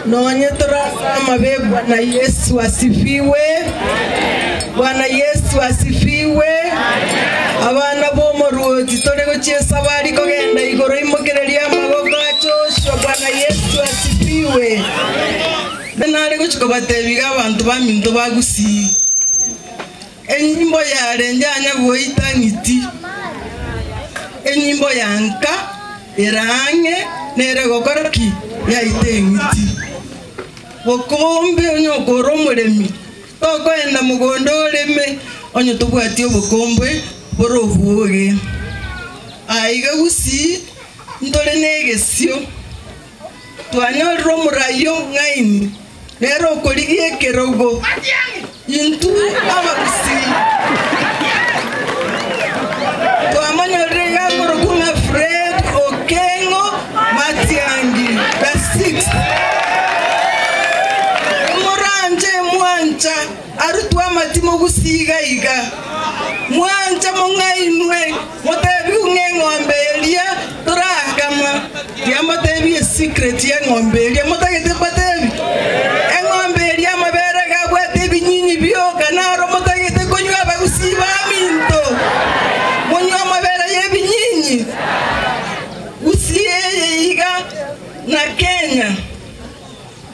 Nonye tore ase amabebwa na Yesu asifiwe. Bwana Yesu asifiwe. Abana b'omoruoti tore gochia esabari kogenda igoro imokereria amaboko achochio Bwana Yesu asifiwe. Nare gochia kobatebia iga abanto baminto bagusii. Enyimbo yarenge ang'e goita ng'iti, enyimbo ya nka ere ang'e nere gokora ki? Yaita eng'iti. Bokombe onye oko ore omoremi, tokoenda mogondo oreme onye tobwati obokombe bore obwo oge. Aiga gusii ntore negesio. Twanyorire omoraio ng'aini, nere okorigia ekerogo, intwe abagusii. Twamonyorire iga akorokwa ng'a Fred Okengo Matiangi, the sixth. Moranche mwancha. Arutwa amatimogu siiga iga, mwancha mong'ainwe, motebigwe ng'a eng'ombe eria torakama. Tiambateebie esecret y'eng'ombe eria, motagete mbateebie? Eng'ombe eria amabere iga abwate ebinyinyi bioka, naro motagete konywa abagusii ba minto, monywe amabere y'ebinyinyi. Gusii eye iga na Kenya.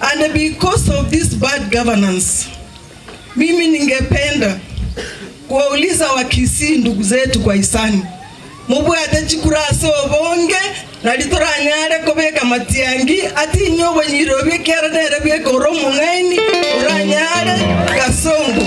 and because of this bad governance mimi ningependa kuwauliza wa Kisii ndugu zetu kwa hisani mobwate chikura ase obonge nari toranyare kobeka matiangi ati inye obonyiri obio ekiara nere bweka ore omong'aini oranyare Kasongo